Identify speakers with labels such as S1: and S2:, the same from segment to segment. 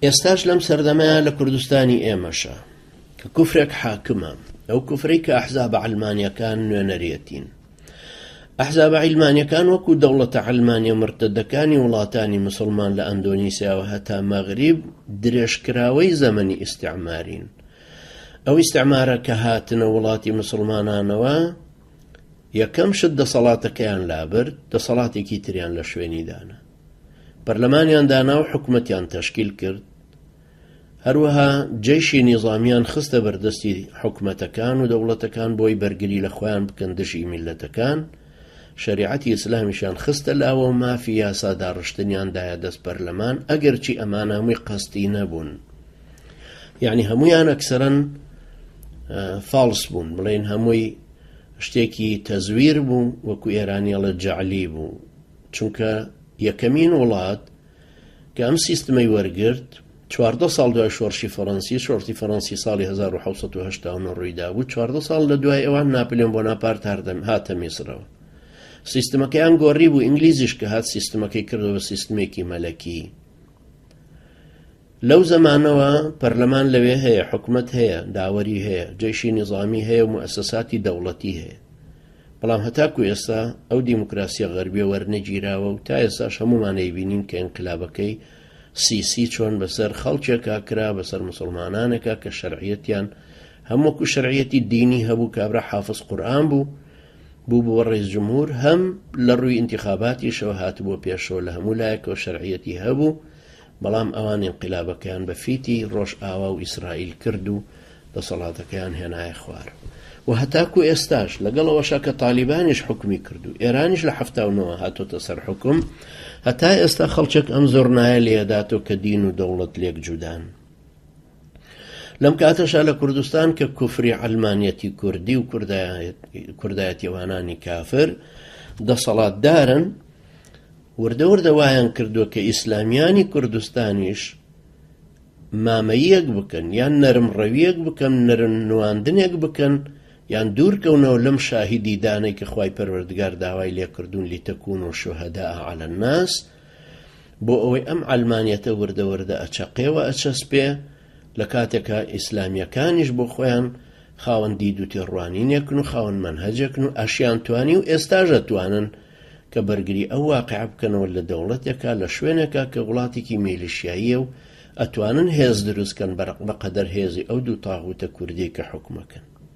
S1: ئێستاش لەم سەردەمەیە لە کوردستانی ئێمەشە کە کوفرێک حاکمە ئەو کوفرەی کە ئەحزابە علمانیەکان نوێنەرەتین ئەحزابە عیلمانیەکان وەکو دەوڵەتە علمانیە مرتدەکانی وڵاتانی مسلمان لە ئەندۆنیسیاوە هەتا مەغریب درێژکراوەی زەمەنی ئیسعمارین ئەو ئیسعمارە کە هاتنە وڵاتی مسلمانانەوە یەکەم شت دەسەڵاتەکەیان لابرد دەسەڵاتێکی تریان لە شوێنی دانا پەرلەمانیان دانا و حکومەتیان تەشکیل کرد، هەروەها جەیشی نیزامیان خستە بەردەستی حکومەتەکان و دەوڵەتەکان بۆی بەرگری لە خۆیان بکەن دژی میللەتەکان، شەریعەتی ئیسلامیشیان خستە لاوە و مافی یاسا داڕشتنیان دایە دەست پەرلەمان، ئەگەرچی ئەمانە هەمووی قەستی نەبوون، یەعنی هەموویان ئەکسەرەن فاڵس بوون، بڵێین هەمووی شتێکی تەزویر بوو، وەکو ئێرانی ئەڵێت جەعلی بوو. چونکە یەکەمین وڵات کە ئەم سیستمەی وەرگرت، چواردە ساڵ دوای شۆڕشی فەڕەنسی، شۆڕتی فەڕەنسی ساڵی هەزار و حەوت سەد و هەشتا و نۆ ڕوویدابوو، چواردە ساڵ لە دوای ئەوان ناپلیۆن بۆناپارت هەردەم هاتە میسرەوە. سیستمەکەیان گۆڕیبوو، ئینگلیزیش کە هات سیستمەکەی کردەوە بە سیستمێکی مەلەکی. لەو زەمانەوە پەرلەمان لەوێ هەیە، حکومەت هەیە، داوەری هەیە، جەیشی نیزامی هەیە و موئەسەساتی دەوڵەتی هەیە. بەڵام هەتاکو ئێستا ئەو دیموکراسیە غەربیە وەرنەگیراوە و تا ئێستاش هەموومان ئەیبینین کە ئینقلابەکەی سیسی چۆن بەسەر خەڵکێکا کرا، بەسەر موسڵمانانێکا کە شەرعیەتیان هەم وەکو شەرعیەتی دینی هەبوو، کابرا حافز قورئان بوو، بووبووە ڕەیس جمهور، هەم لەڕووی ئینتیخاباتیشەوە هاتبووە پێشەوە، لە هەموو لایەکەوە شەرعیەتی هەبوو. بەڵام ئەوان ئینقلابەکەیان بە فیتی ڕۆژئاوا و ئیسرائیل کرد و دەسەڵاتەکەیان هێنایە خوار و هەتاکو ئێستاش، لەگەڵ ئەوەشا کە تالیبانیش حوکمی کرد و ئێرانیش لە حەفتا و نۆ هاتۆتە سەر حوکم، هەتا ئێستا خەڵچک ئەم زۆرنایە لێ ئەداتۆ کە دین و دەوڵەت لێک جودان. لەم کاتەشا لە کوردستان کە کوفری عەلمانیەتی کوردی و کوردایەتیوانانی کافر دەسەڵاتدارن وردە وردە وایان کردووە کە ئیسلامیانی کوردستانیش مامەیەک بکەن یان نەرم ڕەویەک بکەن نەرن نواندنێک بکەن یان دوورکەونەوە لەم شاهیدی دانێکی خی پەروەردگار داوای لێکردوون لیتەکوون و شوهدا ئالە ناس بۆ ئەوەی ئەم عەلمانیەتە وردە وردە ئەچەقێ و ئەچەسپێ لە کاتێکا ئیسلامیەکانیش بۆ خۆیان خاوەن دید و تێڕوانینێکن و خاوەن مەنهەجێکن و ئەشیان توانی و ئێستاش ئەتوانن کە بەرگری ئەو واقع بکەنەوە لە دەوڵەتێکا لە شوێنێکا کە وڵاتێکی میلیشیاییە و ئەتوانن هێز دروستکەن بەقەدەر هێزی ئەو دوو تاغوتە کوردیەی کە حوکمەکەن.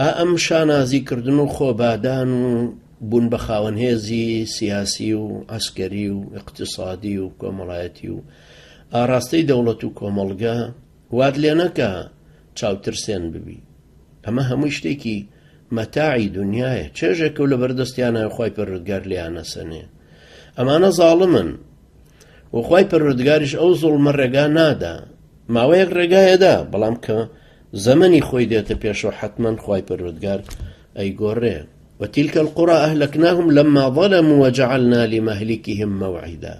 S1: ئا ئەم شانازی کردن و خۆبادان و بوون بە خاوەن هێزی سیاسی و عەسکەری و ئیقتیسادی و کۆمەڵایەتی و ئاراستەی دەوڵەت و کۆمەڵگە وات لێ نەکا چاوترسێن ببی. ئەمە هەمووی شتێکی مەتاعی دونیایە، چێژێکە و لە بەر دەستیانایە و خوای پەروەردگار لێیان ئەسەنێ. ئەمانە زاڵمن و خوای پەروەردگاریش ئەو زوڵمە ڕێگا نادا. ماوەیەک ڕێگایەدا، بەڵام کە زەمەنی خۆی دێتە پێشەوە حەتمەن خوای پەروەردگار ئەیگۆڕێ وتلک القرى اهلکناهم لما ظلموا وجعلنا لمهلكهم موعدا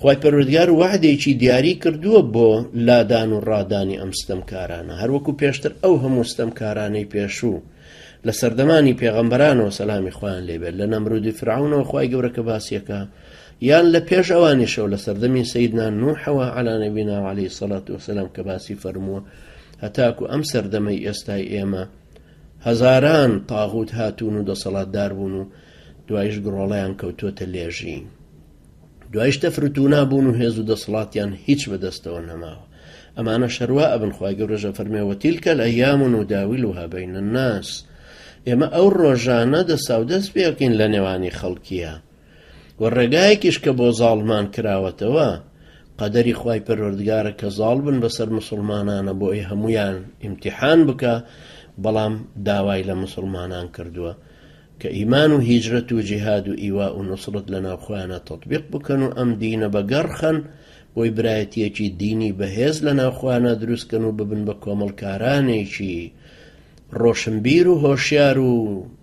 S1: خوای پەروەردگار وعدێکی دیاری کردووە بۆ لادان و ڕادانی ئەم ستەمکارانە هەروەکو پێشتر ئەو هەموو ستەمکارانەی پێشوو لە سەردەمانی پێغەمبەرانەوە سەلامی خۆیان لێبێت لە نەمرودی فرعونەوە خی گەورەکە باسیەکە یان لە پێش ئەوانیشەوە لە سەردەمی سەیدنا نوحەوە عەلا نەبینا و عەلەیهی سەڵات وەسەلام کە باسی فەرمووە هەتاکو ئەم سەردەمەی ئێستای ئێمە هەزاران تاغوت هاتوون و دەسەڵاتدار بوون و دوایش گڕۆڵیان کەوتوتە لێژی دوایش تەفرتونا بوون و هێز و دەسەڵاتیان هیچ بەدەستەوە نەماوە ئەمانە شەروا ئەبن خخوای گەورەژە فەرمێەوە تیلکە لە یامون و داویل و هابین ناس ئێمە ئەو ڕۆژانە دەساودەست پێکەین لە نێوانی خەڵکیە وە ڕێگایەکیش کە بۆ زاڵمان کراوەتەوە قەدەری خوای پەروەردگارە کە زاڵ بن بەسەر مسوڵمانانە بۆ ئەی هەمویان ئیمتیحان بکە بەڵام داوای لە مسوڵمانان کردووە کە ئیمان و هیجرەت و جیهاد و ئیوا و نوسرت لە ناوخۆیانە تطبیق بکەن و ئەم دینە بە گەڕخەن بۆی برایەتیەکی دینی بەهێز لە ناوخۆیانە دروستکەن و ببن بە کۆمەڵکارانێکی ڕۆشنبیر و هۆشیار و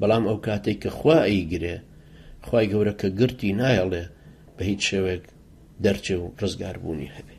S1: بەڵام ئەوکاتەی کە خوا ئەیگرێ خوای گەورە کە گرتی نایەڵێ بەهیچ شێوەیەک دەرچێ و ڕزگاربوونی هەبێ.